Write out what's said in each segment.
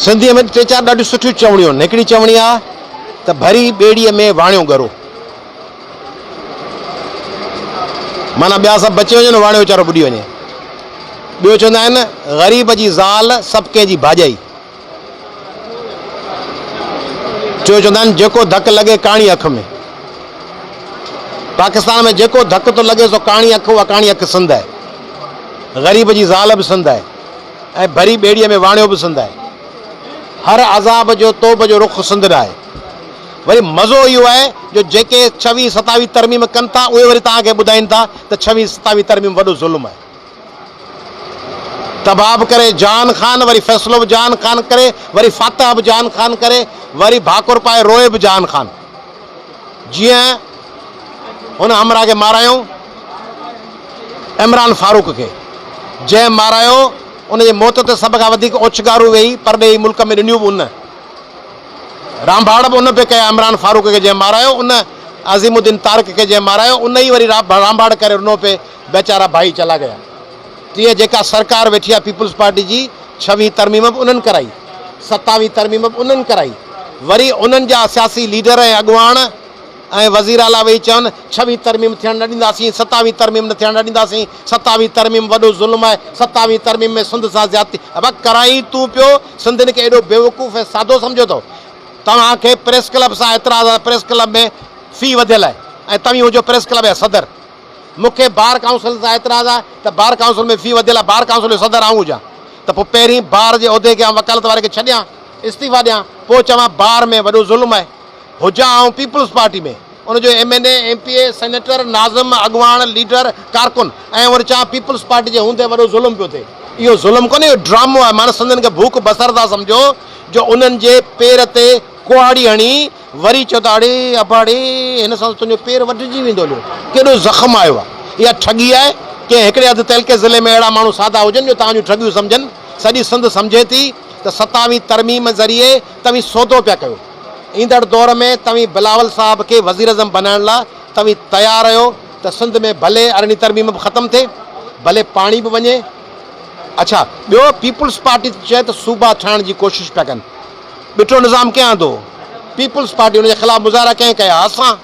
سنڌيء ۾ ٽي چار ڏاڍيون سٺيون چوڻيون آهن. هڪڙي چوڻي آهي ته ڀري ٻيڙيء ۾ واڻيو ڳرو. معنيٰ ٻيا سڀ بچي وڃن، واڻيو ويچارو ٻڏي وڃي. ٻيو چوندا آهن، غريب جي زال سڀ ڪنهن جي ڀاڄائي. ٽيون چوندا آهن، جيڪو ڌڪ لڳي ڪاڻي اک ۾. پاڪستان ۾ جيڪو ڌڪ ٿو لڳي سو ڪاڻي اک، اها ڪاڻي اک سنڌ آهي. غريب جي زال به سنڌ آهي. ۽ ڀري ٻيڙيء ۾ واڻيو به سنڌ آهي. هر عذاب جو توبه جو رخ سنڌ نه آهي. وري مزو اهو آهي جو جيڪي ڇويهه ستاويهه ترميم ڪن ٿا اهي وري توهان کي ٻڌائين ٿا ته ڇويهه ستاويهه ترميم وڏو ظلم آهي. تباب ڪري جان خان وري فيصلو به جان خان ڪري وري فاتح به جان خان ڪري وري ڀاڪر پائي روئي به جان خان. جيئن هن همراهه کي مارايائون عمران فاروق کي، جنهن مارايو ان جي موت تي سڀ کان وڌيڪ اوڇنگارون ويهي پرڏيهي ملڪ ۾ ڏنيون به ان، رانڀاڙ به ان پئي ڪيا عمران فاروق کي جنهن مارايو ان، عظيم الدين طارق کي جنهن مارايو ان ئي وري رانڀاڙ ڪري رنو پئي، بيچارا ڀائي چلا گيا تيئن جيڪا سرڪار ويٺي آهي پيپلز پارٽي جي ڇوهين ترميم به انهن ڪرائي ستاوين ترميم به انهن ڪرائي وري انهن جا سياسي ليڊر ۽ اڳواڻ ۽ وزير اعليٰ ويهي چون ڇوهين ترميم ٿيڻ نه ڏينداسين ستاوين ترميم نه ٿيڻ نه ڏينداسين ستاوين ترميم وڏو ظلم آهي ستاوين ترميم ۾ سنڌ سان زيادتي ابا ڪرائين تون پيو سنڌين کي ايڏو بيوقوف ۽ سادو سمجهيو اٿو توهان کي پريس ڪلب سان اعتراض آهي پريس ڪلب ۾ في وڌيل آهي ۽ توهين هجو پريس ڪلب جا صدر مون کي بار ڪائونسل سان اعتراض آهي ته بار ڪائونسل ۾ في وڌيل آهي، بار ڪائونسل جو صدر آئون هجان ته پوء پهرين بار جي عهدي کي آئون وڪالت واري کي ڇڏيان، استعيفا ڏيان، پوء چوان بار ۾ وڏو ظلم آهي. هجان آئون پيپلز پارٽي ۾ ان جو M N A, M P A, senator, ناظم، اڳواڻ، ليڊر، ڪارڪن ۽ وري چوان پيپلز پارٽي جي هوندي وڏو ظلم پيو ٿئي. اهو ظلم ڪونهي اهو ڊرامو آهي ماڻهن سنڌين کي ڀوک بسر ٿا سمجهو جو انهن جي پير تي ڪهاڙي هڻي، وري چيو ته اڙي اباڙي هن سان ته تنهنجو پير وڍجي ويندو هليو ڪيڏو زخم آيو آهي اها ٺڳي آهي ڪنهن هڪڙي اڌ تعلقي ضلعي ۾ اهڙا ماڻهو سادا هجن جو توهان جون ٺڳيون سمجهن سڄي سنڌ سمجهي ٿي ته ستاوي ترميم ذريعي توهين سودو پيا ڪيو ايندڙ دور ۾ توهين بلاول صاحب کي وزيراعظم بنائڻ لا توهين تيار آهيو ته سنڌ ۾ ڀلي ارڙهين ترميم به ختم ٿئي ڀلي پاڻي به وڃي اڇا ٻيو پيپلز پارٽي چئي ته صوبا ٺاهڻ جي ڪوشش پيا ڪن. ٻٽو نظام ڪنهن آندو؟ پيپلز پارٽي ان جي خلاف مظاهرا ڪنهن ڪيا؟ اسان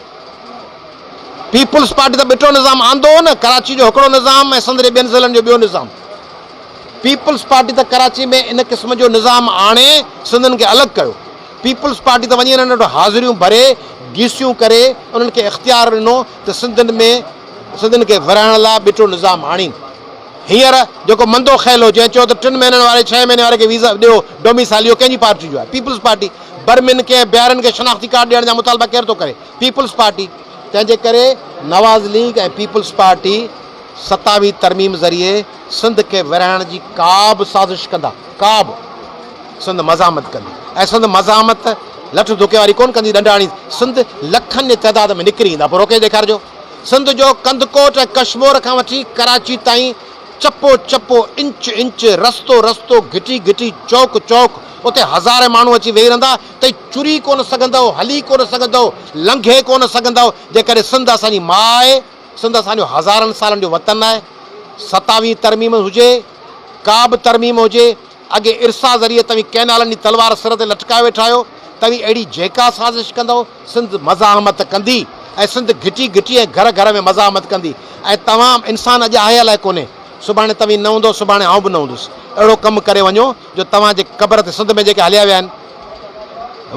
پيپلز پارٽي ته ٻٽو نظام آندو هو نه، ڪراچي جو هڪڙو نظام ۽ سندري ٻين ضلعن جو ٻيو نظام. پيپلز پارٽي ته ڪراچي ۾ ان قسم جو نظام آڻي سنڌين کي الڳ ڪيو. پيپلز پارٽي ته وڃي انهن وٽ حاضريون ڀري، گيسيون ڪري، انهن کي اختيار ڏنو ته سنڌين ۾ سنڌين کي ورهائڻ لاء ٻٽو نظام آڻين. هينئر جيڪو مندو خيل هو جنهن چيو ته ٽن مهينن واري ڇهين مهيني واري کي ويزا ڏيو ڊوميسالي اهو ڪنهن جي پارٽي جو آهي پيپلز پارٽي برمن کي ۽ بيارن کي شناختي ڪارڊ ڏيڻ جا مطالبا ڪير ٿو ڪري پيپلز پارٽي تنهنجي ڪري نواز ليگ ۽ پيپلز پارٽي ستاويهه ترميم ذريعي سنڌ کي ورهائڻ جي ڪابه سازش ڪندا ڪابه سنڌ مزاحمت ڪندي ۽ سنڌ مزاحمت لٺ ڌڪي واري ڪون ڪندي ڏنڊ هڻي سنڌ لکن جي تعداد ۾ نڪري ايندا پوء روڪي ڏيکارجو. سنڌ جو ڪنڌڪوٽ ۽ ڪشمور کان وٺي ڪراچي تائين چپو چپو، انچ انچ، رستو رستو، گهٽي گهٽي، چوڪ چوڪ، اتي هزارين ماڻهو اچي ويهي رهندا تئي چري ڪونه سگهندؤ، هلي ڪونه سگهندؤ، لنگهي ڪونه سگهندؤ، جيڪڏهن سنڌ اسان جي ماء آهي، سنڌ اسان جو هزارن سالن جو وطن آهي، ستاويهين ترميم هجي، ڪا به ترميم هجي، اڳي ارسا ذريعي توهين ڪئنالن جي تلوار سر تي لٽڪائي ويٺا آهيو، توهين اهڙي جيڪا سازش ڪندؤ، سنڌ مزاحمت ڪندي ۽ سنڌ گهٽي گهٽي ۽ گهر گهر ۾ مزاحمت ڪندي ۽ توهان انسان اڄ آهي الائي ڪونهي، سڀاڻي توهين نه هوندؤ، سڀاڻي آئون به نه هوندس، اهڙو ڪم ڪري وڃو جو توهان جي قبر تي سنڌ ۾ جيڪي هليا ويا آهن.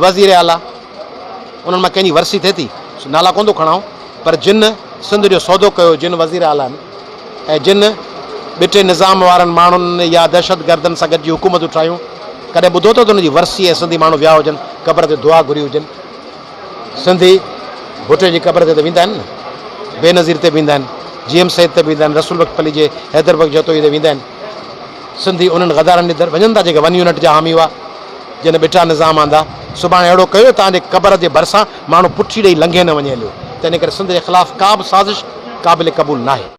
وزير اعليٰ انهن مان ڪنهن جي ورسي ٿئي ٿي، سو نالا ڪونه ٿو کڻائون، پر جن سنڌ جو سودو ڪيو، جن وزير اعليٰ ۽ جن ٻٽي نظام وارن ماڻهن يا دهشتگردن سان گڏجي حڪومتون ٺاهيون، ڪڏهن ٻڌو اٿئو ته انهن جي ورسي ۽ سنڌي ماڻهو ويا هجن، قبر تي دعا گهري هجن؟ سنڌي ڀٽي جي قبر تي ته ويندا آهن نه، بينظير تي به ويندا آهن، جي ايم سيد تي به ويندا آهن، رسول بخش پلي جي حيدر بخش جتوئي تي ويندا آهن. سنڌي انهن غدارن ڏي در وڃن ٿا جيڪي ون يونٽ جا حامي هئا، جن ٻٽا نظام آندا. سڀاڻي اهڙو ڪيو تان جي قبر جي ڀرسان ماڻهو پٺي ڏئي لنگهي نه وڃي هليو. تنهن ڪري سنڌ جي خلاف ڪا به سازش قابل قبول ناهي.